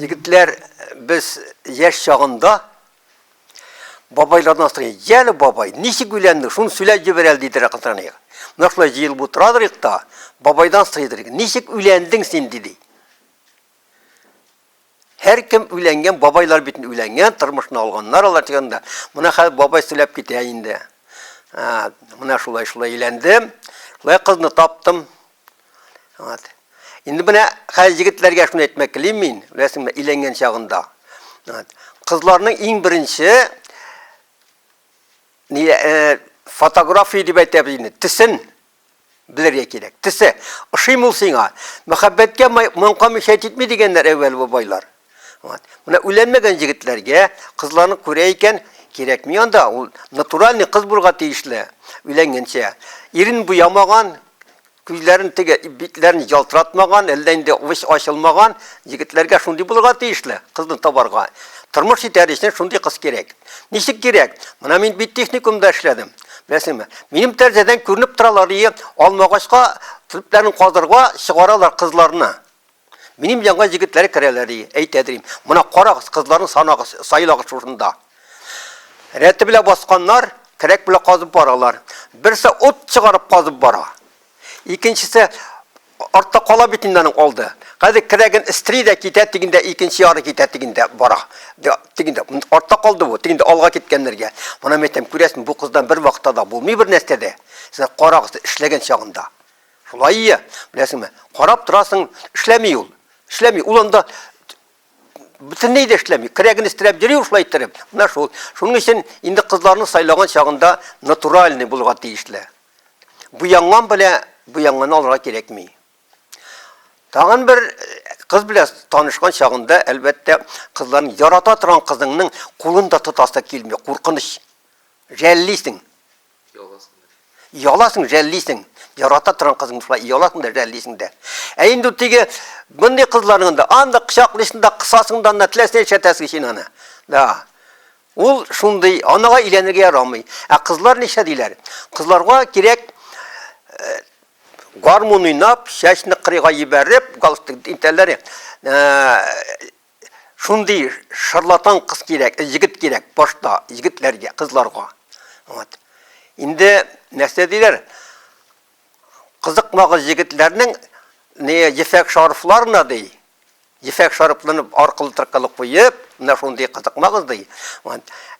Егетләр, без яшь чагында бабайлардан сорый, "Ял бабай, ничек өйләнде? Шуны сөйләп җибәр әле", диде Ракытраник. Менә шулай җыелып утырадыр икта, бабайдан сорыйдыр, "Ничек өйләндең син?" диде. Һәркем өйләнгән, бабайлар бит өйләнгән, тормышны алганнар алар дигәндә. Менә хәзер бабай сөйләп китә инде. Ә, менә шулай шулай өйләндем, шулай кызны таптым. Вот. Инде менә хәзер егетләргә шуны әйтмәк телим мин, беләсеңме, өйләнгән чагында. Вот. Кызларның иң беренче ни э, фотография дип әйтәбез инде, төсен Белергә кирәк. Тесе, ошыйм ул сиңа. Мәхәббәткә маңка мишәйт итми дигәннәр әүвәл бабайлар. Вот. Менә үләнмәгән җегетләргә кызларны күрә икән, кирәкми анда, ул натуральный кыз булырга тиешле, өйләнгәнчә. Ирен буямаган, күзләрен теге битләрен ялтыратмаган, әллә инде уч ачылмаган егетләргә шундый булырга тиешле, кызны табарга. Тормыш итәр өчен шундый кыз кирәк. Ничек кирәк? Менә мин бит техникумда эшләдем. Беләсеңме? Минем тәрәзәдән күренеп торалар, и, алмагачка төпләрен казырга чыгаралар кызларны. Минем янга җегетләр керәләр, и, әйтә дим. Моны карагыз, кызларны санагыз, сайлагыз шушында. Рәте белән басканнар, кирәк белән казып баралар. Берсе ут чыгарып казып бара. Икенчесе Артта кала бит инде аның алды. Хәзер керәген эстри дә китә, тегендә икенче яры китә, тегендә бара. Тегендә артта калды бу, тегендә алга киткәннәргә. Моны мин әйтәм, күрәсең, бу кыздан бер вакытта да булмый бер нәрсә дә. Сез карагыз, эшләгән чагында. Шулай ия, беләсеңме? Карап торасың, эшләми ул. Эшләми. Ул анда бөтенләй дә эшләми. Керәген эстерәп йөри ул шулай иттереп. Менә шул. Шуның өчен инде кызларны сайлаган чагында натуральный булырга тиешле. Буянган белә буянганы алырга кирәкми. Тагын бер кыз белән танышкан чагында, әлбәттә, кызларның ярата торган кызыңның кулын да тотасы килми, куркыныч. Жәллисең. Яласың. Яласың, жәллисең. Ярата торган кызың шулай яласың да, жәллисең дә. Ә инде теге мондый кызларның да анда кочаклыйсың да, кысасың да, анда теләсә чәтәсең син аны. Да. Ул шундый, анага иләнергә ярамый. Ә кызлар ничә диләр? Кызларга кирәк э, гармун уйнап, чәчне кырыйга ебәреп, галстук интәлләре. Э, шундый шарлатан кыз кирәк, егет кирәк башта егетләргә, кызларга. Вот. Инде нәрсә диләр? Кызыкмагыз егетләрнең не ефәк шарфларына ди. Ефәк шарфларны аркылы тыркылып куеп, менә шундый кызыкмагыз ди.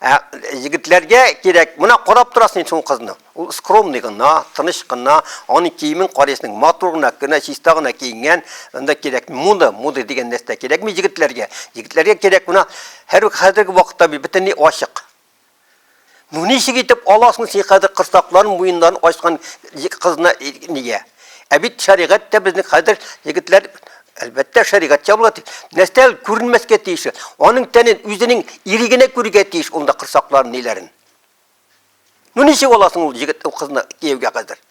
Ә егетләргә кирәк, менә карап торасың шул кызны. Ул скромный гына, тыныч кына, аның киемен карыйсың, матур гына, кына чиста гына киенгән, анда кирәк мода, мода дигән нәрсә кирәкми егетләргә. Егетләргә кирәк менә һәр хәзерге вакытта бөтенләй ачык. Ну ничек итеп аласың син хәзер кырсакларын, муеннарын ачкан кызны нигә? Ә бит шәригать тә безнең хәзер егетләр Әлбәттә, шәригать ябыла тиеш. Нәрсә күренмәскә тиеш. Аның тәнен үзенең ире генә күрергә тиеш ул да кырсакларын, ниләрен. Ну ничек аласың ул егет ул кызны кияүгә хәзер?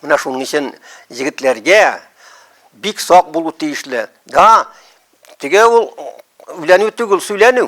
Менә шуның өчен егетләргә бик сак булу тиешле. Да, теге ул үләнү түгел, сүләнү.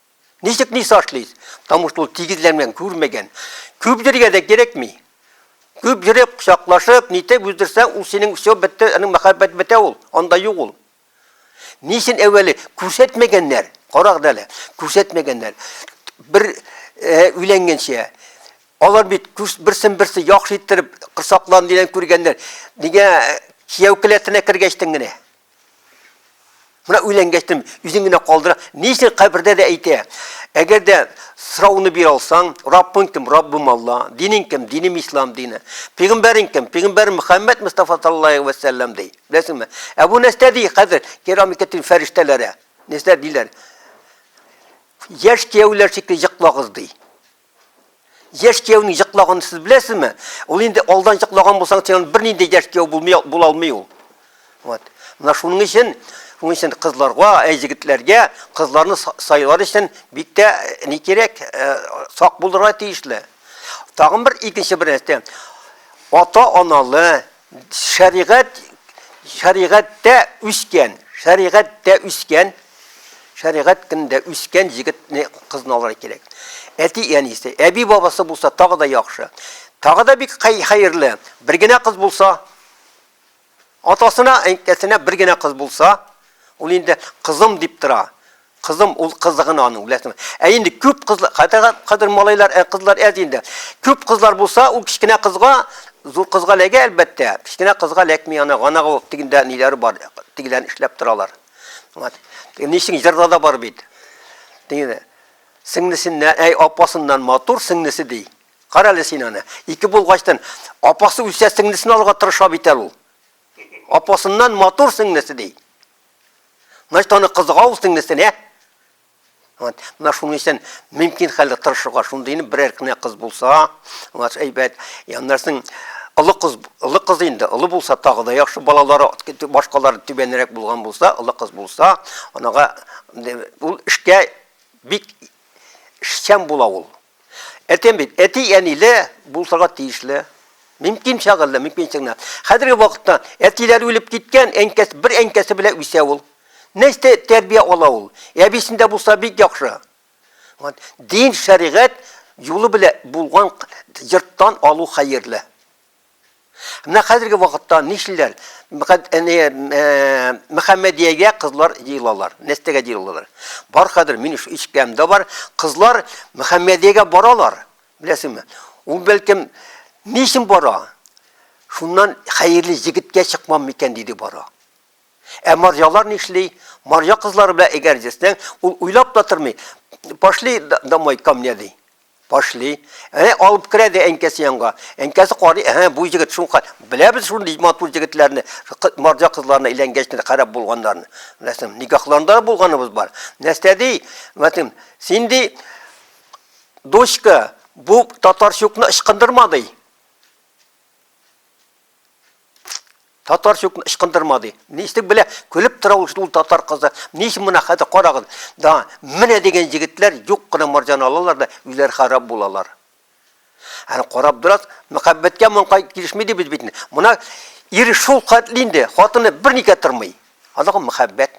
Ничек ни сашлыйс? Потому что ул тигезләнгән, күрмәгән. Күп йөрергә дә кирәкми. Күп йөреп, кочаклашып, нитеп үздерсәң, ул синең все бетте, аның мәхәббәт бетә ул, анда юк ул. Ни өчен әүвәле күрсәтмәгәннәр? Карагыз әле, күрсәтмәгәннәр. Бер өйләнгәнчә алар бит берсен-берсе яхшы иттереп, косаклан дигән күргәннәр. Нигә кияү келәтенә кергәчтен генә? Менә өйләнгәчтем, үзен генә калдыра. Ни өчен кабердә дә әйтә? Әгәр дә сорауны бир алсаң, Раббың кем? Раббым Алла. Динең кем? Динем Ислам дины. Пәйгамбәрең кем? Пәйгамбәр Мөхәммәд Мустафа саллаллаһу алейһи ва саллям ди. Беләсеңме? Ә бу нәрсә ди хәзер? Керамикатин фәрештәләре. Нәрсә диләр? Яшь кияүләр шикелле йоклагыз ди. Яшь кияүнең җыклаганын сез беләсезме? Ул инде алдан җыклаган булсаң, син бер нинди яшь кияү булмый була алмый ул. Вот. Менә шуның өчен, шуның өчен кызларга, ә егетләргә кызларны сайлар өчен бик тә э, ни кирәк, э, сак булырга тиешле. Тагын бер икенче бер нәрсә. Ата-аналы, Шәригать шәригатьтә үскән, шәригатьтә үскән, шәригать кендә үскән җегетне кызны алырга кирәк. Әти әнисе, әби бабасы булса тагы да яхшы. Тагы да бик хәерле. Бер генә кыз булса, атасына, әнкәсенә бер генә кыз булса, ул инде кызым дип тора. Кызым ул кызы гына аның, беләсеңме? Ә инде күп кызлар, хәтта кадер малайлар, ә кызлар әз инде. Күп кызлар булса, ул кечкенә кызга, зур кызга ләгә, әлбәттә. Кечкенә кызга ләкми, ана ганагы тигендә ниләре бар, тигелән эшләп торалар. Вот. Ничек җырда да бар бит. Тигене. Сеңлесеннән, әй, апасыннан матур сеңлесе ди. Кара әле син аны. Ике булгачтан апасы үлсә сеңлесен алырга тырыша бит әле ул. Апасыннан матур сеңлесе ди. Значит, аны кызыга ул сеңлесенә. Вот. Менә шуның өчен мөмкин хәлдә тырышырга, шундыйны берәр кенә кыз булса, вот әйбәт. Яннарсың олы кыз, олы кыз инде, олы булса тагы да яхшы балалары, башкалары түбәнрәк булган булса, олы кыз булса, анага ул эшкә бик шәм була ул. Әйтәм бит, әти-әниле булсага тиешле. Мөмкин чагы әллә, мөмкин чагына. Хәзерге вакытта әтиләр үлеп киткән, әнкәс, бер әнкәсе белән үсә ул. Нәрсә тәрбия ала ул? Әбисендә булса бик яхшы. Вот, дин, шәригать юлы белән булган йорттан алу хәерле. Менә хәзерге вакытта нишлиләр? Мөхәммәдиягә кызлар җыелалар. Нәстәгә җыелалар. Бар хәзер мин ишеткәнемдә бар, кызлар Мөхәммәдиягә баралар. Беләсеңме? Ул бәлкем ни өчен бара? Шуннан хәерле җегеткә чыкмам микән диде бара. Ә марҗалар нишли? Марҗа кызлары белән әгәр җитсәң, ул уйлап та тормый. Пошли домой ко мне ди. Пошли. Әнә алып керә дә әнкәсе янга. Әнкәсе карый, әһә, бу җегет шуңка. Беләбез шундый матур җегетләрне, марҗа кызларына әйләнгәч кенә харап булганнарын. Беләсең, никахларында да булганыбыз бар. Нәрсә ди? Мәтем, син ди, дочка, бу татарчукны ычкындырма ди. Татар чук ычкындырма ди. Ничек белә, көлеп тора ул шул татар кызы. Ничек мына хәтер карагыз. Да, менә дигән җегетләр юк кына марҗан алалар да үзләр харап булалар. Аны карап дурас, мәхәббәткә монкай килешми дибез бит. Мына ир шул хәтле инде, хатыны берникә тормый. Аның мәхәббәт.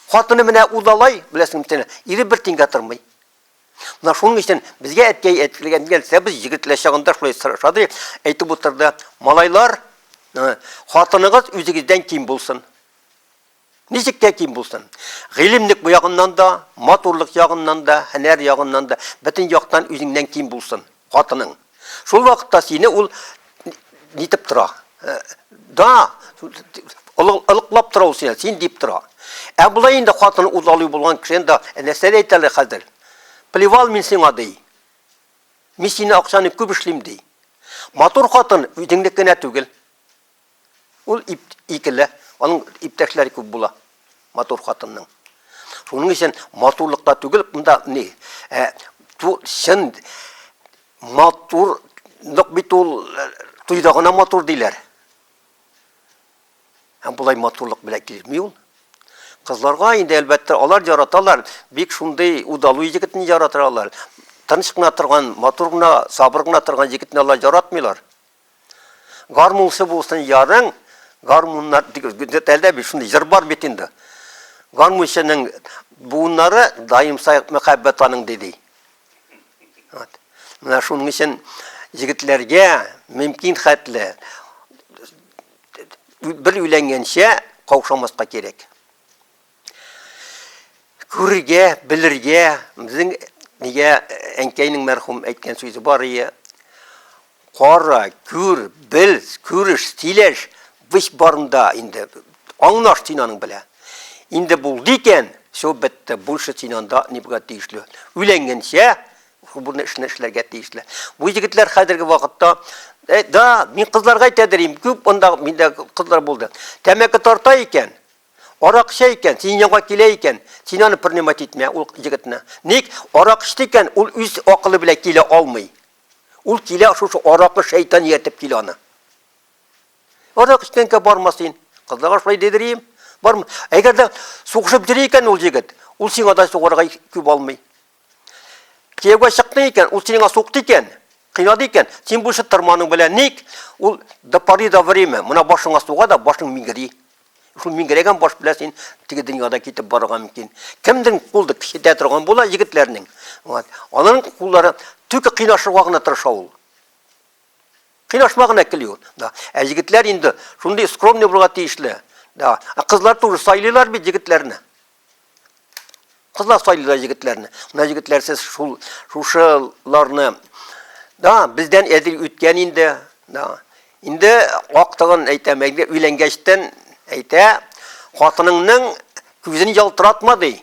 Хатыны менә удалай, беләсең митен, ире бер тингә тормый. Менә шуның өчен безгә әткәй әйтелгән нәрсә без егетләр чагында шулай сорашады, әйтеп утырды. Малайлар, хатыныгыз үзегездән ким булсын. Ничек тә ким булсын. Гыйлемлек бу ягыннан да, матурлык ягыннан да, һөнәр ягыннан да, бөтен яктан үзеңнән ким булсын. Хатының. Шул вакытта сине ул нитеп тора. Да, ылыклап тора ул сине, син дип тора. Ә болай инде хатыны үз алуы булган кеше инде нәрсә әйтә әле хәзер? Плевал мин сиңа ди. Мин сине акчаны күп эшлим ди. Матур хатын үзеңнеке генә түгел. Ул ип, икеле, аның иптәшләре күп була. Матур хатынның. Шуның өчен матурлыкта түгел, монда ни? Ә, ту, чын матурлык бит ул туйда гына матур диләр. Һәм болай матурлык белән килми ул. Кызларга инде әлбәттә алар яраталар, бик шундый удалу егетне яраталар. Тыныч кына торган, матур гына, сабыр гына торган егетне алар яратмыйлар. Гармунчы булсын ярың, гармуннар тәлдә бит, шундый җыр бар бит инде. Гармунчының буыннары даимса мәхәббәт аның диди. Вот. Менә шуның өчен егетләргә мөмкин хәтле бер өйләнгәнчә каушамаска кирәк. Күрергә, белергә, безнең нигә әнкәйнең мәрхүм әйткән сүзе бар ие. Кара, күр, бел, күреш, сөйләш, весь барында инде. Аңнаш син аның белән. Инде булды икән, все бетте, больше син анда ни булырга тиешле. Өйләнгәнчә шубырны эшне эшләргә тиешле. Бу егетләр хәзерге вакытта Э, да, мин кызларга әйтәдер идем, күп анда миндә кызлар булды. Тәмәке тарта икән, Арак эчә икән, синең янга килә икән, син аны принимать итмә, ул егетне. Ник? Арак эчте икән, ул үз акылы белән килә алмый. Ул килә шушы аракы шәйтан ияртеп килә аны. Арак эчкәнгә барма син. Кызларга шулай дидерим. Барма. Әгәр дә сугышып йөри икән ул егет, ул сиңа да сугырга күп алмый. Кияүгә чыкты икән, ул сиңа сукты икән, кыйнады икән, син бу эшне торманың белән ник? Ул до поры до время, мына башыңа суга да башың миңгери. Шул миңгерәгән баш белән син теге дөньяда китеп барырга мөмкин. Кемдер кулды кичетә торган була егетләрнең. Вот. Аның куллары түке кыйнашырга гына тырыша ул. Кыйнашма гына кели ул. Да. Ә егетләр инде шундый скромный булырга тиешле. Да. Ә кызлар туры сайлыйлар бит егетләрне. Кызлар сайлыйлар егетләрне. Менә егетләр сез шул шушыларны да бездән әзер үткән инде. Да. Инде актыгын әйтәм, әйдә өйләнгәчтән әйтә, хатыныңның күзен ялтыратма ди.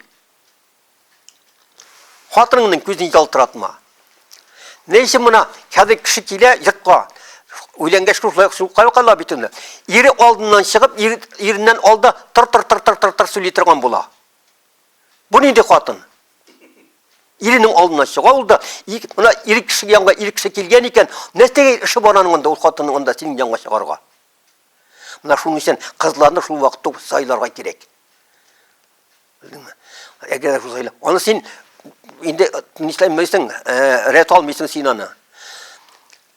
Хатыныңның күзен ялтыратма. Ни өчен мына хәзер кеше килә йортка, өйләнгәч шулай шулай кала бит аны. Ире алдыннан чыгып, ир, иреннән алда тыр тыр тыр тыр тыр тыр сөйли торган була. Бу нинди хатын? Иренең алдына чыга ул да, мына ир кеше янга ир кеше килгән икән, нәрсәгә эше бар аның анда ул хатынның анда синең янга чыгарга? Менә шуның өчен кызларны шул вакытта сайларга кирәк. Белдеңме? Әгәр Рузаилә, аны син инде нишләйм белсең, э, рәт алмыйсың син аны.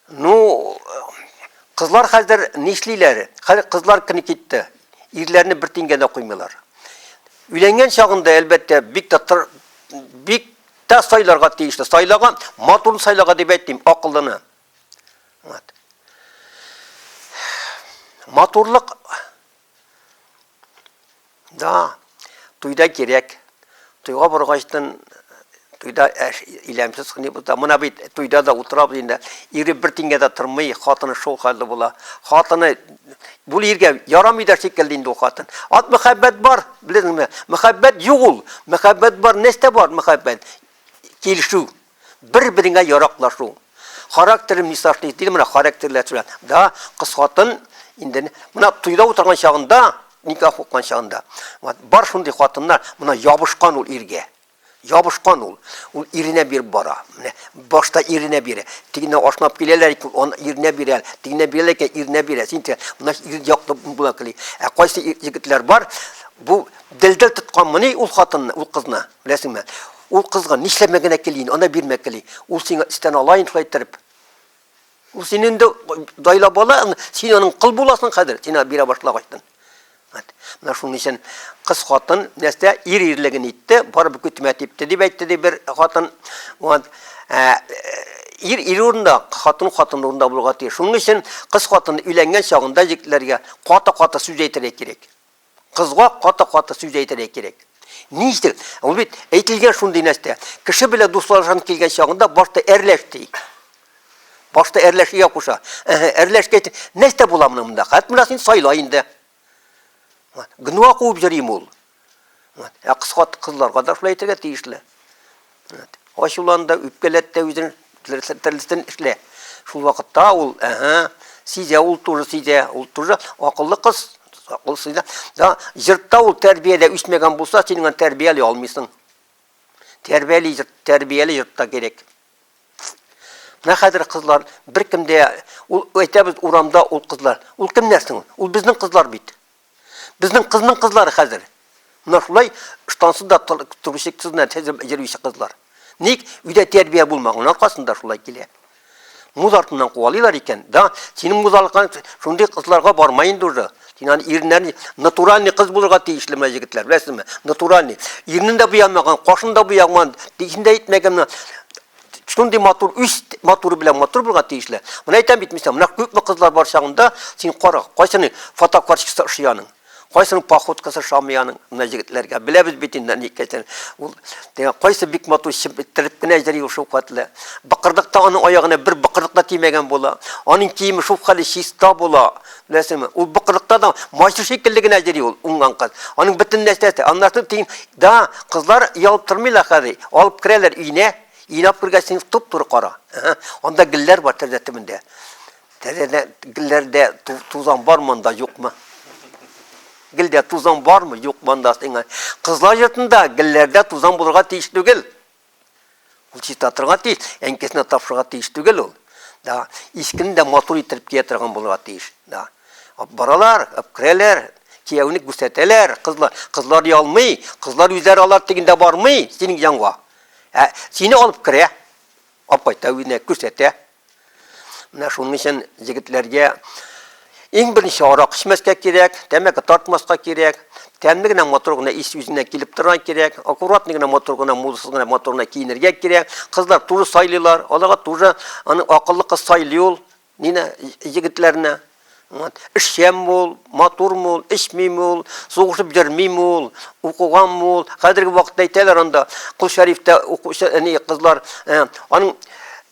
Ну, кызлар хәзер нишлиләр? Хәзер кызлар кини китте. Ирләрне бер тингә дә куймыйлар. Өйләнгән чагында әлбәттә бик тә бик тә сайларга тиешле. Сайлага, матурын сайлага дип әйтмим, акыллыны. Вот. Матурлык Да, туйда кирәк. Туйга баргачтын туйда әш иләмсез хни булса, мына бит туйда да утырабыз инде. Ире бер тингә дә тормый, хатыны шул хәлдә була. Хатыны бу иргә ярамый да шикелле инде ул хатын. Ат мәхәббәт бар, белдеңме? Мәхәббәт юк ул. Мәхәббәт бар, нәрсә бар мәхәббәт? Килешү, Бер-береңә яраклашу. Характеры мисашный диде, менә характерләр сүлә. Да, кыз хатын инде менә туйда утырган чагында, никах уккан чагында, бар шундый хатыннар, менә ябышкан ул иргә. Ябышкан ул. Ул иренә биреп бара. Менә башта иренә бирә. Тигенә ашнап киләләр икән, он иренә бирә. Тигенә бирәләр икән, иренә бирә. Син тә менә ир яклы була кели. Ә кайсы егетләр бар, бу дилдә тоткан моны ул хатынны, ул кызны. Беләсеңме? Ул кызган, нишләмә генә кил инде, ана бирмә кели. Ул сиңа истән ала инде шулай иттереп. Ул син инде дайла бала, син аның кыл буласың хәзер, сиңа бирә башлагачтан. Менә шуның өчен кыз хатын нәрсә ир ирлеген итте, барып көтмә типте дип әйтте ди бер хатын. Вот. Ә, ир ир урында, хатын хатын урында булырга тиеш. Шуның өчен кыз хатын өйләнгән чагында егетләргә каты-каты сүз әйтергә кирәк. Кызга каты-каты сүз әйтергә кирәк. Ни өчен? Ул бит әйтелгән шундый нәрсә. Кеше белән дуслашасың килгән чагында башта әрләш ди. Башта әрләш ия куша. Әһә, әрләш әйтә. Нәрсә була моның монда? Хәт менә син сайла инде. Гнуа куып җөрим ул. Ә кыскат кызларга да шулай әйтергә тиешле. Ачулан да, үпкәләт тә үзен терлесен эшлә. Шул вакытта ул, әһә, сизә, ул туры сизә, ул туры акыллы кыз, акыллы сизә. Да, җыртта ул тәрбияле үсмәгән булса, син аны тәрбияли алмыйсың. Тәрбияли, тәрбияли җыртта кирәк. Менә хәзер кызлар беркемдә ул әйтәбез урамда ул кызлар. Ул кемнәр соң? Ул безнең кызлар бит. Безнең кызның кызлары хәзер. Менә шулай штансыз да торучы кызлар, җырлыйчы кызлар. Ник өйдә тәрбия булмаган аркасында шулай килә. Муз артыннан куалыйлар икән, да, синең музалыкка шундый кызларга бармай инде уже. Син аны ирнән натуральный кыз булырга тиешле менә егетләр, беләсезме? Натуральный. Ирнен дә буямаган, кашын да буямаган, тишен дә итмәгән. шундый матур, үз матуры белән матур булырга тиешле. Менә әйтәм бит мисал, менә күпме кызлар бар чагында, син кара, кайсының фотокарточкасы ошый аның, кайсының походкасы ошамый аның, менә егетләргә. Беләбез бит инде ни икәнен. Ул кайсы бик матур чибеттереп кенә йөри шул катлы. Быкырдыкта аның аягына бер быкырдык та тимәгән була. Аның киеме шул хәле чиста була. Беләсеңме, ул быкырыкта да майчы шикелле генә йөри ул уңган кыз. Аның бөтен нәрсәсе, аннары тиң, да, кызлар ялып тормыйлар хәзер. Алып керәләр өенә, инап күргәч, син туп-туры кара. Анда гөлләр бар тәрәзә төбендә. Тәрәзә гөлләрдә тузан бар монда, юкмы? Гөлдә тузан бармы, юк монда сиңа. Кызлар йортында гөлләрдә тузан булырга тиеш түгел. Ул чиста торга тиеш, әнкесенә тапшырга тиеш түгел ул. Да, искен дә матур итеп кия торган булырга тиеш. Да. Баралар, апкрәләр, кияүне күрсәтәләр, кызлар, кызлар ялмый, кызлар үзләре алар дигәндә бармый, синең янга. Ә сине алып керә. Апайта үзенә күрсәтә. Менә шуның өчен егетләргә иң беренче арак эчмәскә кирәк, тәмәке тартмаска кирәк, тәмле генә матур гына ис үзенә килеп торган кирәк, аккуратный гына матур гына музыкасыз гына матур гына киенергә кирәк. Кызлар туры сайлыйлар, аларга туры аны акыллы кыз сайлый ул, нине егетләрне. Вот. Эшчән бул, матур бул, эчми бул, сугышып йөрми бул, укыган бул. Хәзерге вакытта әйтәләр анда, Кул Шәрифтә укучы, әни кызлар, э, аның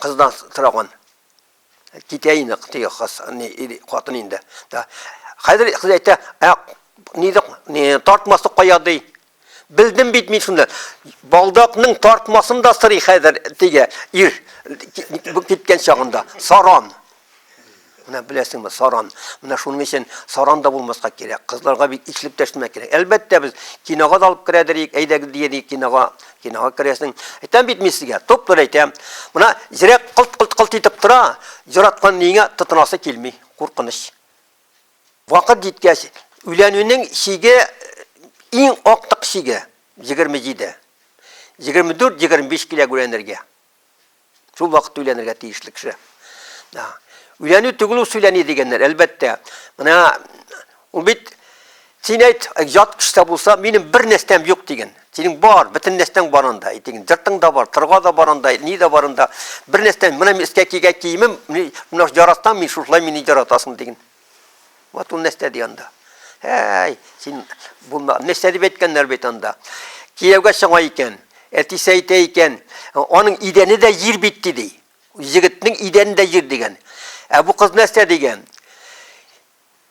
Кыздан сораган. Китә инде теге кыз, ни, ир, хатын инде. Да. Хәзер кыз әйтә, ә ниде, ни, тартмасы кая ди. Белдем бит мин шуны. Балдакның тартмасын да сорый хәзер теге ир киткән чагында. Саран. Менә беләсеңме, саран. Менә шуның өчен саран да булмаска кирәк. Кызларга бит ичлек тәшмә кирәк. Әлбәттә, без кинога да алып керәдер идек, әйдәгез дигән идек кинога. Кинога керәсең. Әйтәм бит мин сезгә, туп-тур әйтәм. Менә йөрәк кылт-кылт-кылт итеп тора, яраткан нигә тотынасы килми. Куркыныч. Вакыт җиткәч, өйләнүнең чиге иң актык чиге 27. 24-25 килә гүләнергә. Шул вакытта өйләнергә тиешле кеше. Да. Өйләнү түгел ул сөйләни дигәннәр, әлбәттә. Менә ул бит син әйт, ят кеше булса, минем бер нәрсәм юк диген. Синең бар, бөтен нәрсәң бар анда, әйтегез. Дыртың да бар, тырга да бар анда, ни дә бар анда. Бер нәрсәм, менә мин өскә кигән киемем, менә яратам мин шушылай мине яратасың диген. Вот ул нәрсә ди анда. Әй, син булма. Нәрсә дип әйткәннәр бит анда. Кияүгә чыга икән, әтисе әйтә икән, аның идәне дә җир бит ди. Егетнең идәне дә җир дигән. Ә бу кыз нәрсә дигән?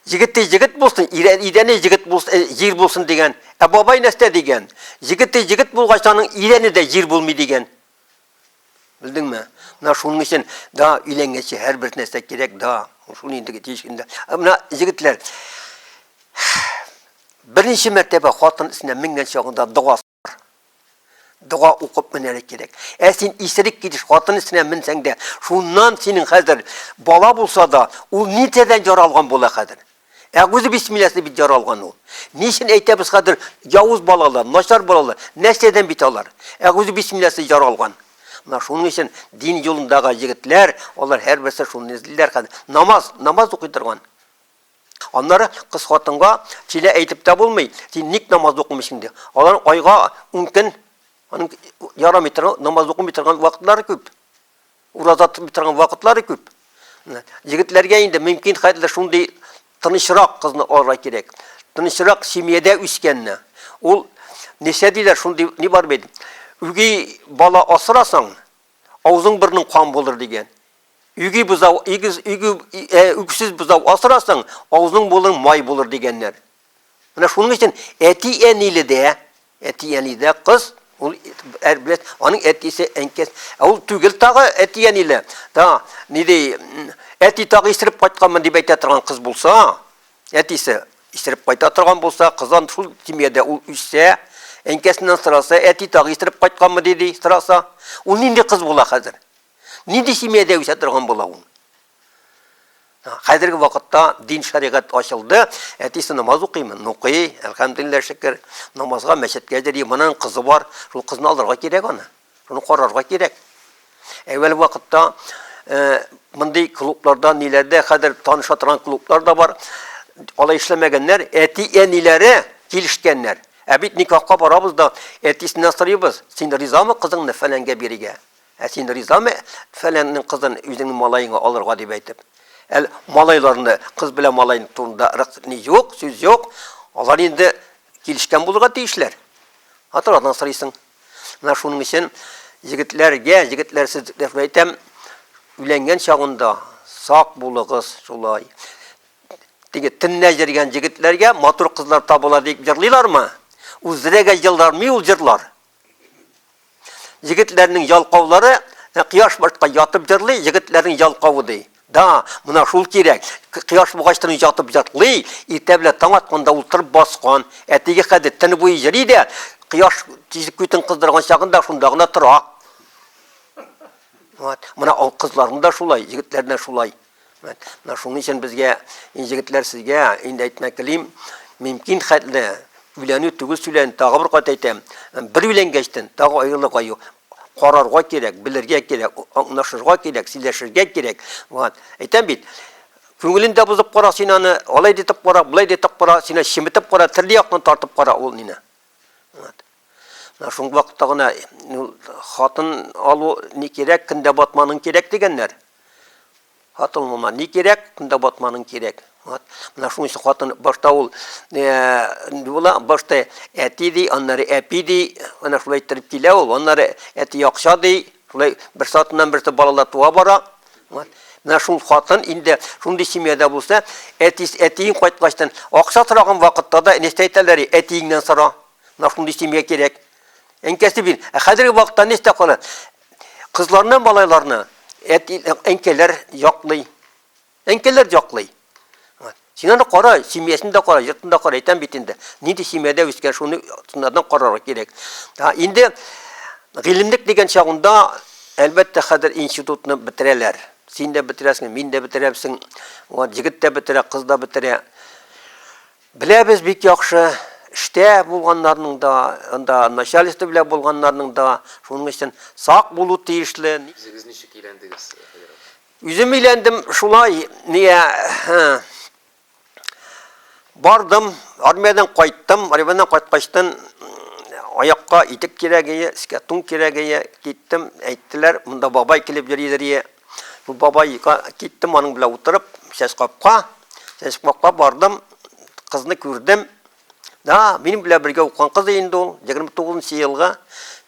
Егете егет булсын, идәне егет булсын, э, җир булсын дигән. Ә бабай нәрсә дигән? Егете егет булгач, аның идәне дә җир булмый дигән. Белдеңме? Менә шуның өчен да өйләнгәнче һәрбер нәрсә кирәк да. Шуны инде тиеш инде. Ә менә егетләр беренче мәртәбә хатын исенә менгән чагында дога бар. Дога укып менәле кирәк. Ә син исерек килеш хатын исенә менсәң дә, шуннан синең хәзер бала булса да, ул нитәдән яралган була хәзер? Ә үзе бисмилләсе бит яралган ул. Ни өчен әйтәбез хәзер явыз балалар, начар балалар, нәрсәдән бит алар? Ә үзе бисмилләсе яралган. Менә шуның өчен дин юлындагы егетләр, алар һәрберсе шуны эзлиләр хәзер. Намаз, намаз укый торган. Аннары кыз хатынга сине әйтеп тә булмый, син ник намаз укымыйсың дип. Алар айга 10 көн аның ярамый торган намаз укымый торган вакытлары күп. Ураза тотмый торган вакытлары күп. Егетләргә инде мөмкин хәтле шундый тынычрак кызны алырга кирәк. Тынычрак семьяда үскәнне. Ул нисә диләр шундый ни бар бит. Үги бала асырасаң, авызың бирнең кан булыр дигән. Үги бузау, игез үги үксез бузау асырасаң, авызың булыр май булыр дигәннәр. Менә шуның өчен әти-әниледә, әти-әнидә кыз, ул бит аның әтисе, әнкәс, ә ул түгел тагы әти-әниле. Та, ни ди, әти тагы исереп кайтканмын дип әйтә торган кыз булса, әтисе исереп кайта торган булса, кызан шул семьяда ул үссә, әнкәсеннән сораса, әти тагы исереп кайтканмы диди, сораса, ул нинди кыз була хәзер? Нинди семьяда үсә торган була ул? Хәзерге вакытта дин шәригать ачылды, әтисе намаз укыймы? Укый, әлхәмдулилла шөкер. Намазга мәчеткә йөри, моның кызы бар, шул кызны алырга кирәк аны. Шуны карарга кирәк. Әүвәл вакытта э, мондый клубларда, ниләрдә хәзер таныша торган клублар да бар. Алай эшләмәгәннәр, әти-әниләре килешкәннәр. Ә бит никахка барабыз да, әтисенә сорыйбыз, син ризамы кызыңны фәләнгә бирергә? Ә син ризамы, фәләннең кызын үзеңнең малаеңа алырга дип әйтеп? Әл малайларны, кыз белән малайны турында рык ни юк, сүз юк. Алар инде килешкән булырга тиешләр. Аталардан сорыйсың. Менә шуның өчен егетләргә, егетләр сез дип әйтәм, өйләнгән чагында сак булыгыз шулай. Теге теннә җиргән егетләргә матур кызлар табыла дип җырлыйлармы? Үзләргә җырлармы ул җырлар? Егетләрнең ялкаулары кояш башка ятып җырлый, егетләрнең ялкавы ди. Да, мына шул кирәк. Кояш бугачтан ятып җырлый, иртә белән таң атканда ул тырып баскан. Ә теге хәзер төн буе җырлый да, кояш тизлек күтен кыздырган чагында шунда гына тора. Вот. Мына кызларның да шулай, егетләрнең шулай. Менә шуның өчен безгә, егетләр, сезгә инде әйтмәк телим, мөмкин хәтле өйләнү түгел сүлән, тагы бер кат әйтәм, бер өйләнгәчтен тагы аерылырга юк. Карарга кирәк, белергә кирәк, аңлашырга кирәк, сөйләшергә кирәк. Вот. Әйтәм бит, күңелендә бозып кара син аны, алай дитеп кара, булай дитеп кара, сине чеметеп кара, төрле яктан тартып кара ул мине. Вот. Менә шундый вакытта гына хатын алу ни кирәк, киндә батманың кирәк дигәннәр. Хатын моңа ни кирәк? Кунда батманың кирәк. Вот. Менә шуның өчен хатын башта ул була, башта әти ди, аннары әпи ди, менә шулай иттереп килә ул, аннары әти акча ди, шулай бер сатыннан берсе балалар туа бара. Вот. Менә шул хатын инде шундый семьяда булса, әтис әтиең кайткачтан акча сораган вакытта да нәрсә әйтәләр, әтиеңнән сора. Менә шундый семья кирәк. Әнкәсе бин, ә хәзерге вакытта нәрсә кала? Кызларны, малайларны әти, әнкәләр яклый. Әнкәләр яклый. Син аны кара, семьясын да кара, йортын да кара, әйтәм бит инде. Нинди семьяда үскән, шуны тыңнардан карарга кирәк. Инде гыйлемлек дигән чагында, әлбәттә, хәзер институтны бетерәләр. Син дә бетерәсең, мин дә бетерәбсең. Вот егет тә бетерә, кыз да бетерә. Беләбез бик яхшы, эштә булганнарның да, анда начальство белән булганнарның да, шуның өчен сак булу тиешле. Үзегез ничек өйләндегез, Фәгер абый? Үзем өйләндем шулай, нигә, бардым, армиядән кайттым, армиядән кайткачтын, аякка итек кирәгие, өскә тун кирәгие, киттем, әйттеләр, монда бабай килеп йөри, Бабай киттем аның белән утырып, сәс капка. Сәс капка бардым, кызны күрдем. Да, минем белән бергә укыган кыз инде ул, 29 елга.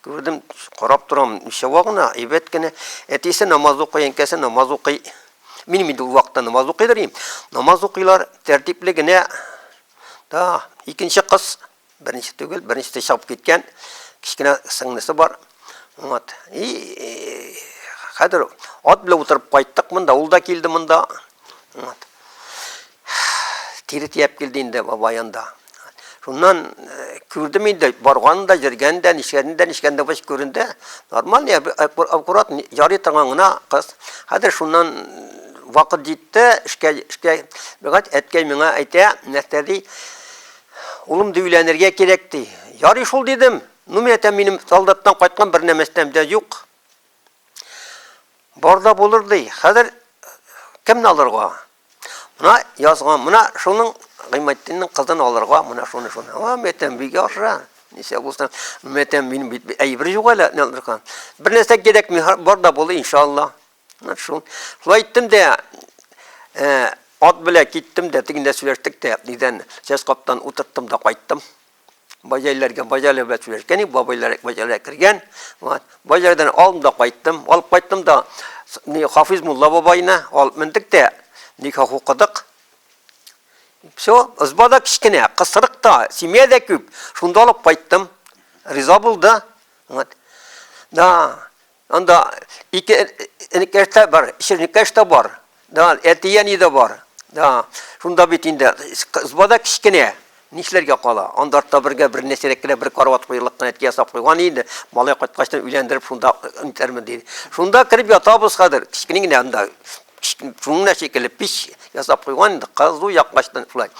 Күрдем, карап торам, ничава гына, әйбәт кенә. Әтисе намаз укый, әнкәсе намаз укый. Минем инде ул вакытта намаз укыйдыр инде. Намаз укыйлар, тәртипле генә. Да, икенче кыз Беренче түгел, беренче тә чабып киткән. Кичкенә сыңнысы бар. Вот. И хәзер ат белән утырып кайттык монда, ул да килде монда. Вот. Тире тияп килде инде баба янда. Шуннан э, күрдем инде, барган да, җиргән дә, нишкән дә, нишкән дә баш күренде. Нормаль, э, аккурат ярый торган гына кыз. Хәзер шуннан вакыт җитте, эшкә, эшкә, бигать әткәй миңа әйтә, нәрсә ди, Улым ди өйләнергә кирәк ди. Ярый шул дидем. Ну мин әйтәм минем солдаттан кайткан бер нәмәстәм дә юк. Бар да булыр ди. Хәзер кемне алырга? Мына язган, мына шуның Гыйматтинның кызын алырга, мына шуны шуны. Ва мәтәм бик яхшы. Ничә булса, мәтәм мин бит әйбер юк әле, Бер нәрсә кирәкми, бар да булыр иншалла. Шул. Шул әйттем дә, ат белә киттем дә, тегендә сөйләштек тә, нидән, сәс каптан утырттым да кайттым. Баҗайларга, баҗайлар белән сөйләшкән, бабайлар баҗайлар кергән. Вот. Баҗайлардан алдым да кайттым. Алып кайттым да, ни Хафиз Мулла бабайны алып мендек тә, никах хукыдык. Все, ызбада кичкенә, кысрыкта, семья дә күп. Шунда алып кайттым. Риза булды. Вот. Да. Анда ике энекәш тә бар, чирнекәш тә бар. Да, әти-әни дә бар. Да, шунда бит инде кызба да кечкенә. Нишләргә кала? Анда артта бергә бер нәрсәрәк кенә бер карават куярлык кына әти ясап куйган инде. Малай кайткач та өйләндереп шунда үтермен диде. Шунда кереп ятабыз хәзер. Кечкенә генә анда шуның да шикелле пич ясап куйган инде. Кызу яккачтан шулай.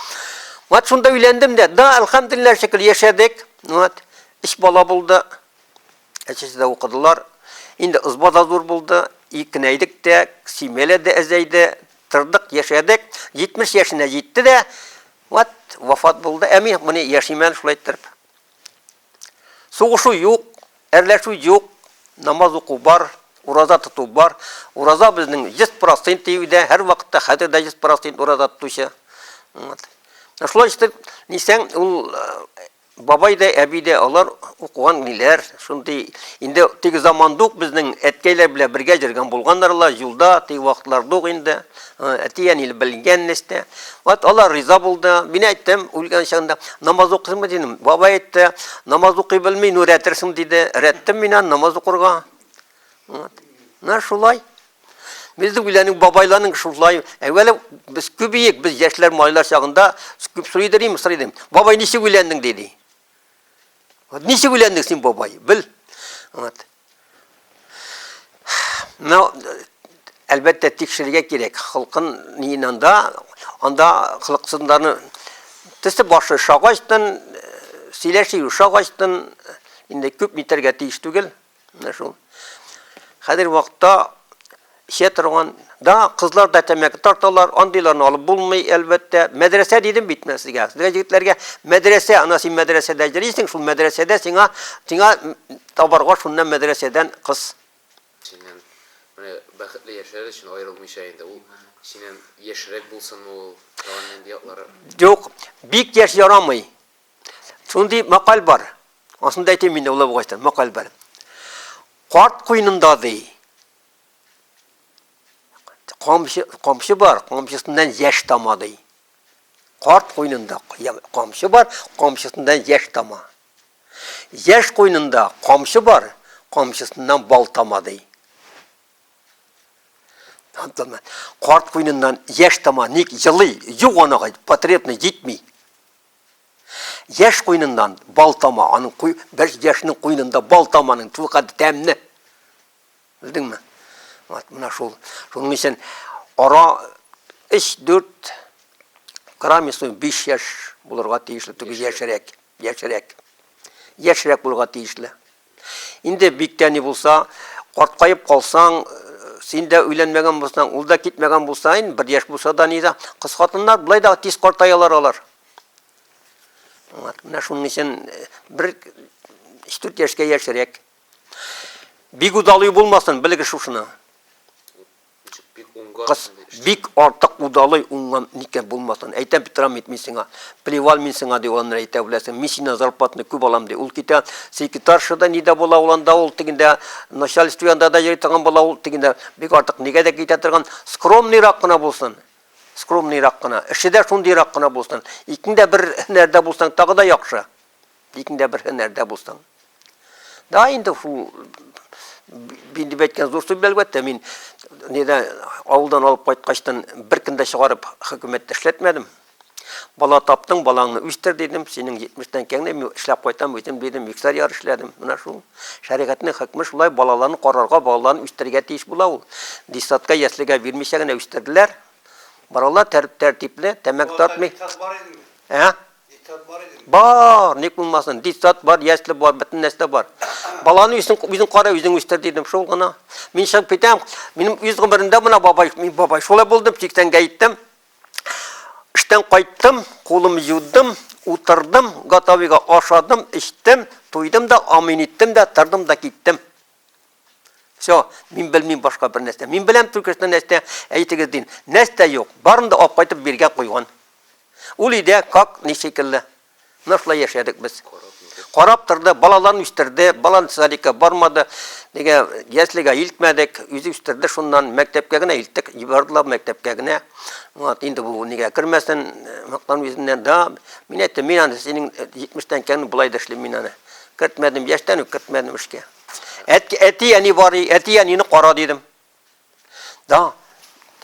Вот шунда өйләндем дә. Да, әлхәмдулиллаһ шикелле яшәдек. Вот. Өч бала булды. Әчесе дә укыдылар. Инде ызба да зур булды. И кенәйдек тә, семьяләр дә әзәйде. Тордык, яшәдек. 70 яшенә җитте дә, вот, вафат булды. Ә мин моны яшим әле шулай иттереп. Сугышу юк, әрләшү юк, намаз уку бар, ураза тоту бар. Ураза безнең 100% тиюдә, һәр вакытта хәзер дә 100% ураза тотучы. Вот. Шулай итеп, дисәң, ул Бабай да, әби дә алар укыган ниләр, шундый инде теге заманда ук безнең әткәйләр белән бергә җөргән булганнар ла, җулда, теге вакытларда ук инде, әти әниле белгән нәстә. Вәт алар риза булды, мин әйттем, үлгән чагында, намаз укыйсыңмы дидем, бабай әйтте, намаз укый белми, ну рәтерсең диде, рәттем мин аны намаз укырга. Менә шулай. Безнең үләнең бабайларның шулай. Әүвәле без күбиек, без яшьләр малайлар чагында күп сорый идем, сорый идем. Бабай ничек үләнең диде. Вот ничек үләнең син бабай? Бел. Вот. Менә әлбәттә тикшерергә кирәк. Халкын нинанда анда халыксызларны тесе башы шагачтан сөйләшү шагачтан инде күп нитәргә тиеш түгел. Менә шул. Хәзер вакытта эчә торган да кызлар да тәмәке тарталар, андыйларны алып булмый, әлбәттә. Мәдрәсә дидем бит мен сезгә. Сезгә егетләргә мәдрәсә, ана син мәдрәсәдә йөрисең, шул мәдрәсәдә сиңа сиңа табарга шуннан мәдрәсәдән кыз. Синнән менә бәхетле яшәр өчен аерылмыйча инде ул синнән яшьрәк булсынмы ул, тагын нинди яклары? Юк, бик яшь ярамый. Шундый макаль бар. Асын да әйтим инде улы бугачтан макаль бар. Карт куенында ди. Камчы, камчы бар, камчысыннан яшь тама ди. Карт куенында камчы бар, камчысыннан яшь тама. Яшь куенында камчы бар, камчысыннан бал тама ди. Карт куеныннан яшь тама, ник җылый, юк анага потребность җитми. Яшь куйныннан бал тама, аның куй, бер яшьнең куйнында бал таманың тулкады тәмне. Белдеңме? Вот менә шул. Шуның өчен ара 3-4 граммису 5 яшь булырга тиешле, түгел яшьрәк, яшьрәк. Яшьрәк булырга тиешле. Инде бик тә ни булса, карткаеп калсаң, син дә өйләнмәгән булсаң, ул да китмәгән булса, инде бер яшь булса да ни да, кыз хатыннар болай да тиз картаялар алар. Менә шуның өчен бер 3-4 яшькә яшьрәк. Бик удалый булмасын, белегез шушыны. Кыз, бик артык удалый уңган никяһ булмасын. Әйтәм бит, Рам ит мин сиңа. Плевал мин сиңа, ди ул аннары әйтә, беләсең, мин синнән зарплатаны күп алам, ди. Ул китә, секретарша да, ни дә була ул анда, ул тегендә, начальство янында да йөри торган була ул тегендә. Бик артык нигә дә китә торган. Скромныйрак кына булсын. Скромныйрак кына. Эше дә шундыйрак кына булсын. Икең дә бер һөнәрдә булсаң, тагы да яхшы. Дикең дә бер һөнәрдә булсын. Да, инде шул дип әйткән зур сүз, әлбәттә, мин нидә авылдан алып кайткачтан беркем дә чыгарып хөкүмәттә эшләтмәдем. Бала таптың, балаңны үстер дидем, синең 70-тән кәңне мин эшләп кайтам үзем дидем, миксар яр эшләдем. Менә шул. Шәригатьнең хөкме шулай, балаларны карарга, балаларны үстергә тиеш була ул. Дисатка, яслегә бирмичә генә үстерделәр. Баралар тәртипле, тәмәк тартмый. Ә? Детсад бар инде. Бар, ник булмасын? Детсад бар, ясле бар, бөтен нәрсә бар. Баланы үзең үзең кара, үзең үстер дидем, шул гына. Мин чыгып китәм. Минем үз гомеремдә менә бабай, мин бабай шулай булдым, 80 гә иттем. Эштән кайттым, кулым юдым, утырдым, готовига ашадым, эчтем, туйдым да, амин иттем дә, тордым да киттем. Все, мин белмим башка бер нәрсә. Мин беләм Түркестан нәрсә, әйтегез дин. Нәрсә юк, барын да алып кайтып биргә куйган. Ул иде, как, ничекелле. Нәрсә яшәдек без? Карап торды, балаларын үстерде, балан садика бармады, дигә яслегә илтмәдек, үзе үстерде шуннан, мәктәпкә генә илттек, җибардылар мәктәпкә генә. Вот, инде бу нигә кермәсен, мактан үзеннән да. Мин әйтте, мин аны синең 70 тән кән булай да эшлим мин аны. Кертмәдем, яшьтән үк кертмәдем эшкә. Әти әни бар, әти әнине кара дидем. Да.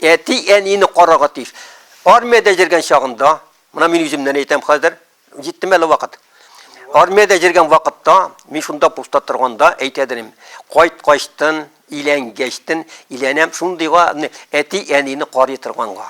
Әти әнине карага тиеш. Армиядә җиргән чагында, менә мин үземнән әйтәм хәзер, җиттем әле вакыт. Армиядә җиргән вакытта, мин шунда пуста торганда әйтә дидем, кайт качтын, илән гәчтен, иләнәм шундыйга әти әнине карый торганга.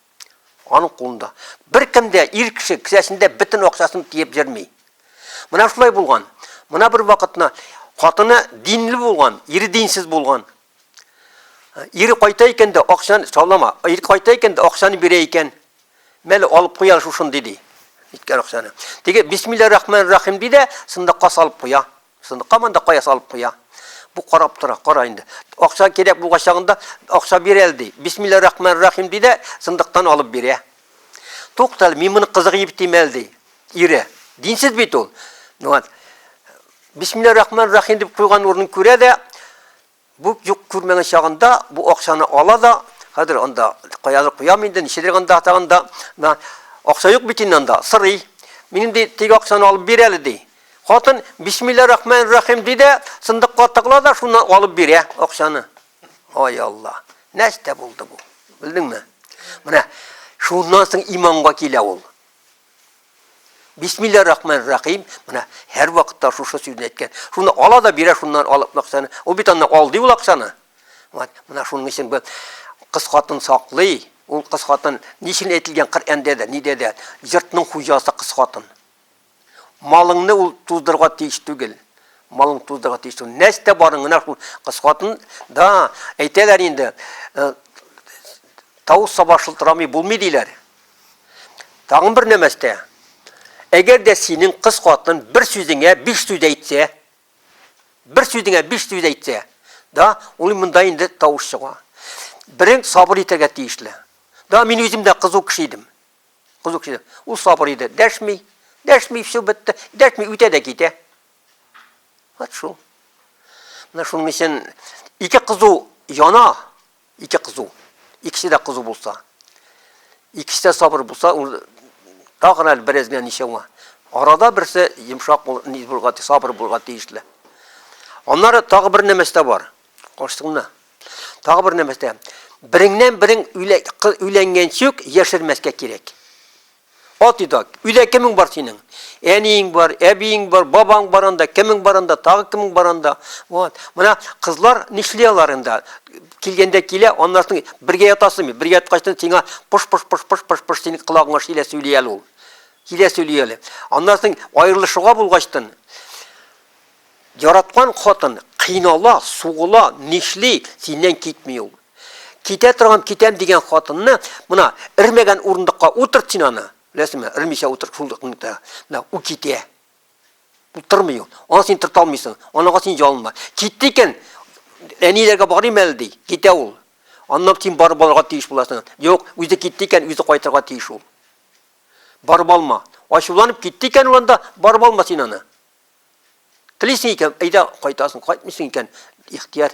Аның кулында. Бер кем дә ир кеше кесәсендә бөтен акчасын тиеп йөрми. Менә шулай булган. Менә бер вакытны хатыны динле булган, ире динсез булган. Ире кайта икән дә акчаны саулама. Ире кайта икән дә акчаны бирә икән. Мәле алып куя шушындый ди. Иткән акчаны. Теге бисмилла рахман рахим ди дә, сындыкка салып куя. Сындыкамын да кая салып куя. Бу карап тора, кара инде. Акча кирәк булгач чагында, акча бир әле ди. Бисмилла рахман рахим ди дә, сындыктан алып бирә. Тукта әле, мин моны кызык итеп тим әле ди. Ире, динсез бит ул. Ну вот. Бисмилла рахман рахим дип куйган урынын күрә дә, Бу юк күрмәгән чагында бу акчаны ала да, хәзер анда каядыр куям инде, ничедер анда тагында, на акча юк бит инде анда, сырый. Минем ди, теге акчаны алып бир әле ди. Хатын бисмилла рахман рахим ди дә, сындыкка тыгыла да шуны алып бирә акчаны. Ай Алла, нәрсә булды бу? Белдеңме? Менә шуннан соң иманга килә ул. Бисмилла рахман рахим. Менә һәр вакытта шушы сүзне әйткән. Шуны ала да бирә шуннан алып акчаны. Ул бит аны ал ди ул акчаны. Вот, менә шуның өчен бу кыз хатын саклый. Ул кыз хатын ничек әйтелгән Коръәндә дә, нидә дә, йортның хуҗасы кыз хатын. Малыңны ул туздырга тиеш түгел. Малың туздырга тиеш түгел. Нәрсә барың гына шул кыз хатын да әйтәләр инде. Э, Тау саба шылтырамый булмый диләр. Тагын бер нәмәстә, әгәр дә синең кыз хатын бер сүзеңә биш сүз әйтсә, бер сүзеңә биш сүз әйтсә, да, ул монда инде тавыш чыга. Берең сабыр итәргә тиешле. Да, мин үзем дә кызу кеше идем. Кызу кеше. Ул сабыр иде. Дәшми, дәшми, все бетте. Дәшми, үтә дә китә. Вот шул. Менә шуның өчен ике кызу яна, Ике кызу. Икесе дә кызу булса. Икесе дә сабыр булса, ул тагын әле бераз генә ничәүңә. Арада берсе йомшак бул, ни булга, сабыр булга тиешле. Аннары тагы бер нәмәстә бар. Кошсыңны. Тагы бер нәмәстә. Береңнән берең өйләнгәнчүк яшермәскә кирәк. Ат идак. Өйдә кемең бар синең? Әниең бар, әбиең бар, бабаң бар анда, кемең бар анда, тагы кемең бар анда. Вот. Менә кызлар нишли алар инде? Килгәндә килә, аннан соң бергә ятасыңмы? Бергә яткачтан сиңа пыш-пыш-пыш-пыш-пыш-пыш синең колагыңа шилә сөйли әле ул. Шилә сөйли әле. Аннан соң аерылышуга булгачтан, яраткан хатын кыйнала, сугыла, нишли, синнән китми ул. Китә торган китәм дигән хатынны, мына эрмәгән урындыкка утырт син аны. Беләсеңме? Эрмичә утырт шундыкны. Менә у китә. Утырмый ул. Аны син тырта алмыйсың. Анага син ялынма. Китте икән, әниләргә барыйм әле ди. Китә ул. Аннан син барып алырга тиеш буласың. Юк, үзе китте икән, үзе кайтырга тиеш ул. Барып алма. Ачуланып китте икән ул анда, барып алма син аны. Телисең икән, әйдә кайтасың, кайтмыйсың икән, ихтияр.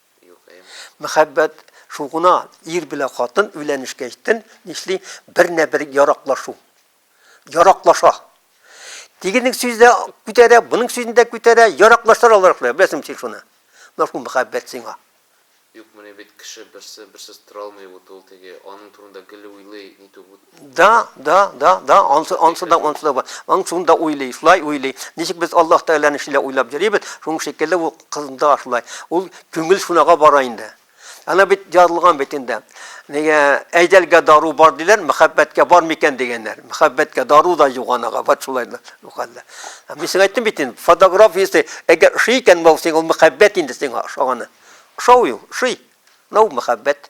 Мөхәббәт шул гына, ир белән хатын өйләнешкәч тен нишли, бернә-бер яраклашу. Яраклаша. Тигенең сүзе дә күтәрә, буның сүзен дә күтәрә, яраклашалар алар шулай, беләсең син шуны. Менә шул мөхәббәт сиңа. Юк, менә бит кеше берсе берсез тора алмый бу тул теге, аның турында гел уйлый, нитү бу. Да, да, да, да, ансы, ансы да, ансы да бар. Ансыны да уйлый, шулай уйлый. Ничек без Аллаһ Тәгаләне шулай уйлап йөрибез, шуның шикелле ул кызында шулай. Ул күңел шунага бара инде. Ана бит язылган бит инде. Нигә әйдәлгә дару бар диләр, мәхәббәткә бар микән дигәннәр. Мәхәббәткә дару да юк анага, вот шулай да. Юкалда. Мин сиңа әйттем бит инде, фотографиясе, әгәр ошый икән, бу сиңа мәхәббәт инде сиңа ошаганы. Ошау юк, ошый. Нау мәхәббәт.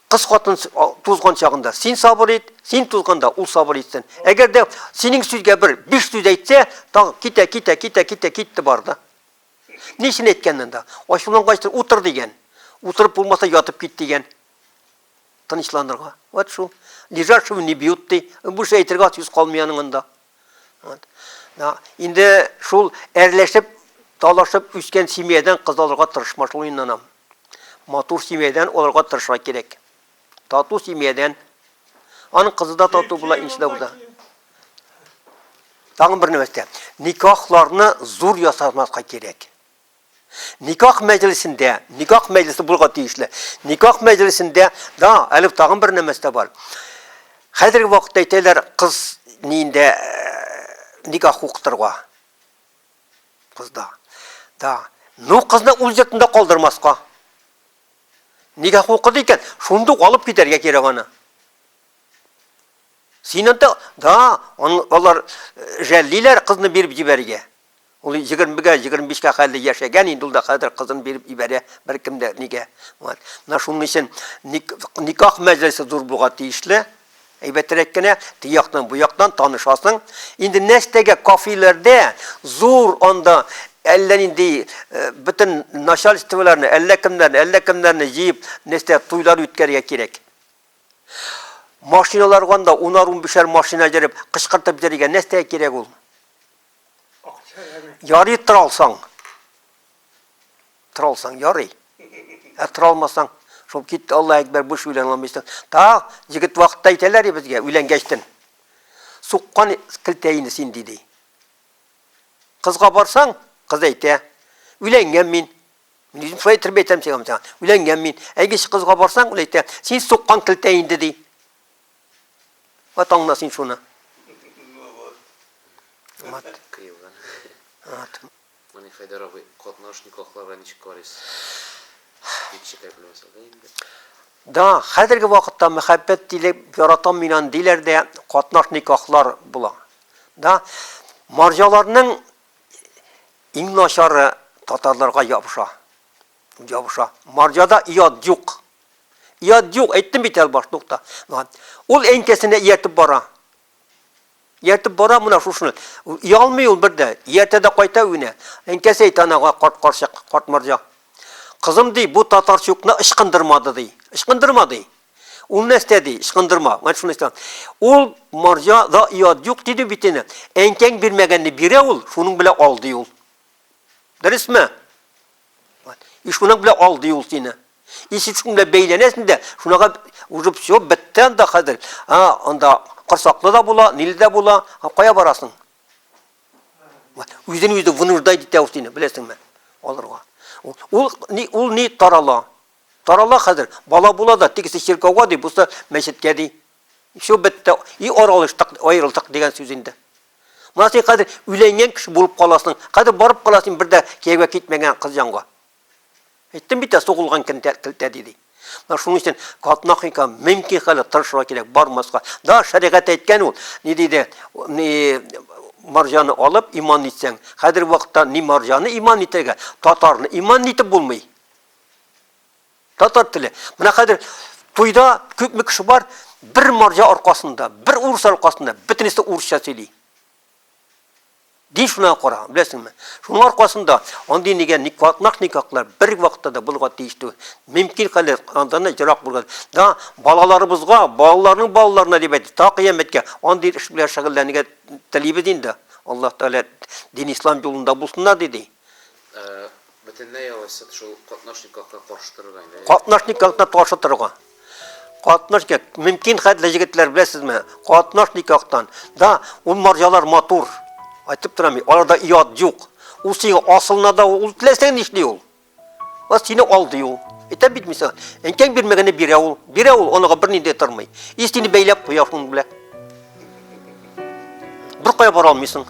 Кыз хатын тузган чагында син сабыр ит, син тузганда ул сабыр итсен. Әгәр дә синең сүзгә бер биш сүз әйтсә, тагы китә, китә, китә, китә, китте барды. Ни өчен әйткәнмен да? Ачулангач, утыр дигән. Утырып булмаса, ятып кит дигән. Тынычланырга. Вот шул. Лежачего не бьют ди. Бу эш әйтергә сүз калмый аның анда. Инде шул әрләшеп, талашып үскән семьядан кыз алырга тырышма шул инде анам. Матур семьядан алырга тырышырга кирәк. Тату семьядан. Аның кызы да тату була, инши да. Тагын бер нәрсә. Никахларны зур ясамаска кирәк. Никах мәҗлесендә, никах мәҗлесе булырга тиешле. Никах мәҗлесендә да әле тагын бер нәмәс тә бар. Хәзерге вакытта әйтәләр, кыз ниендә никах укытырга. Кызда. Да. Ну кызны үз йортында калдырмаска. Никах укыды икән, шунда ук алып китәргә кирәк аны. Син анда, да, алар жәллиләр кызны биреп җибәрергә. Ул егермегә, егерме бишкә хәлле яшәгән инде ул да, хәзер кызын биреп ибәрә, беркем дә нигә. Вот. Менә шуның өчен ник, никах мәҗлесе зур булга тиешле, әйбәтрәк кенә, теге яктан, бу яктан танышасың. Инде нәрсәгә кафеләрдә зур анда әллә нинди бөтен начальстволарны, әллә кемнәрне, әллә кемнәрне җыеп, нәрсә туйлар үткәрергә кирәк. Машиналарга анда унар-унбишәр машина җырып, кычкыртып җырырга нәрсәгә кирәк ул? Ярый тора алсаң. Тора алсаң ярый. Ә тора алмасаң, шул китте Алла әкбәр буш үлән алмыйсың. Та, егет вакытта әйтәләр безгә үләнгәчтен. Суккан килтәйне син диде. Кызга барсаң, кыз әйтә, үләнгән мин. Мин үзем шулай итеп әйтәм сиңа. Үләнгән мин. Әйгеш кызга барсаң, ул әйтә, син суккан килтәй инде ди. Вот аңна син шуны. Ну вот. Вот. Кыйган. Вот. Менә Хайдар абый, катнаш никахларга ничек карыйсыз? Дип шикаятьләмәсә дә инде. Да, хәзерге вакытта мәхәббәт дилеп яратам мин аны диләр дә катнаш никахлар була. Да, марҗаларның иң начары татарларга ябыша. Ябыша. Марҗада иат юк. Иат юк, әйттем бит әле башта ук та. Ул әнкәсенә иятеп бара. Иятеп бара менә шушыны. Ялмый ул бер дә. Иятә дә кайта өенә. Әнкәсе әйтә анага карт карчык, карт марҗа. Кызым ди, бу татарчукны ычкындырмады ди. Ычкындырма ди. Ул нәрсә ди, ычкындырма. Менә шуны әйтә. Ул марҗа да иат юк диде бит инде. Әнкәң бирмәгәнне бирә ул, шуның белән ал ди ул. Дөресме? И шуның белән алды ул сине. И син шуның белән бәйләнәсең дә, шунага уже все, бетте анда хәзер. А, анда корсаклы да була, ниле дә була, а кая барасың? Үзен үзе вынуждать итә ул сине, беләсеңме? Алырга. Ул ни, ул ни тарала? Тарала хәзер, бала була да, тегесе чиркәүгә ди, бусы мәчеткә ди. Все, бетте. И аралыштык, аерылдык дигән сүз инде. Менә син хәзер өйләнгән кеше булып каласың. Хәзер барып кала син бер дә кияүгә китмәгән кыз янга. Әйттем бит, сугылган килтә, килтә диде. Менә шуның өчен катнахника мөмкин хәле тырышырга кирәк, бармаска. Да шәригать әйткән ул, ни диде, ни марҗаны алып иман итсәң. Хәзер вакытта ни марҗаны иман итәргә, татарны иман итеп булмый. Татар теле. Менә хәзер туйда күпме кеше бар, бер марҗа аркасында, бер урыс аркасында, бөтенесе урысча сөйли. Дин шуна кара, беләсеңме? Шуның аркасында андый нигә никватнак никаклар бер вакытта да булырга тиеш түгел. Мөмкин хәле андан җырак булган. Да балаларыбызга, балаларның балаларына дип әйтте, та кыяметкә андый эш белән шөгыльләнергә телибез инде. Аллаһ Тәгалә дин ислам юлында булсыннар диде. Ә бөтенләй алайса шул катнашниклыкка каршы торырга инде. Катнашниклыкны каршы торырга. Катнашник, мөмкин хәтле егетләр беләсезме? Катнашниклыктан. Да, ул марҗалар матур. Айтып торам, аларда иат юк. Ул сиңа асылына да ул теләсә нишли ул. Ва сине алды ул. Әйтә бит мисал. Әнкәң бирмәгәне бирә ул. Бирә ул, оныгы бернинди тормый. И сине бәйләп куя шуның белән. Бер кая бара алмыйсың.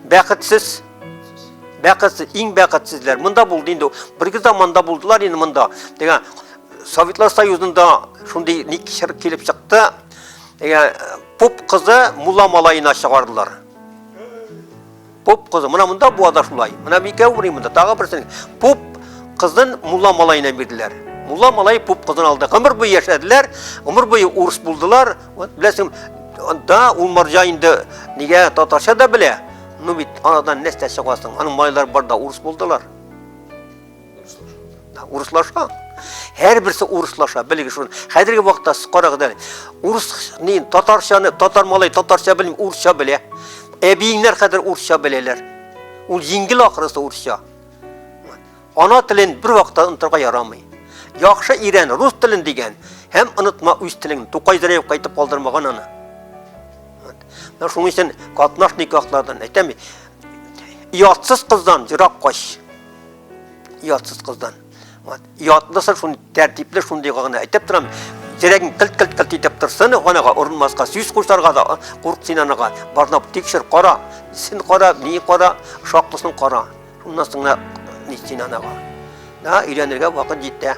Бәхетсез. Бәхетсез, иң бәхетсезләр. Монда булды инде. Бер гызда монда булдылар инде монда. Дигән Советлар Союзында шундый ник шыр килеп чыкты. Дигән поп кызы мулла малаена чыгардылар. Поп кызы, мына монда буада шулай. Мына микәү ври монда, тагы берсен. Поп кызын мулла малаена бирделәр. Мулла малай поп кызын алды. Гомер буе яшәделәр, гомер буе урыс булдылар. Вот беләсең, да ул марҗа инде нигә татарча да белә. Ну бит анадан нәрсә чыгасың? Аның малайлары бар да урыс булдылар. урыслаша һәрберсе урыслаша белегез шуны хәзерге вакытта карагыз әле урысны татарчаны татар малай татарча белми урысча белә әбиеңнәр хәзер урысча беләләр ул җиңел ахрысы урысча ана телен бер вакытта онытырга ярамый яхшы ирән рус телен дигән һәм онытма үз телең тукай зәреев кайтып калдырмаган аны менә шуның өчен катнаш никахлардан әйтәм ятсыз кыздан ерак кач Ятсыз кыздан. Вот. Ятлысын шуны тәртипле шундый гына әйтеп торам. Терәгең кылт-кылт-кылт итеп торсын, анага урынмаска сүз кушарга да курк син анага. Барнап тикшер, кара. Син кара, ни кара, шаклысын кара. Шуннан соң ни син анага. Да, өйрәнергә вакыт җитә.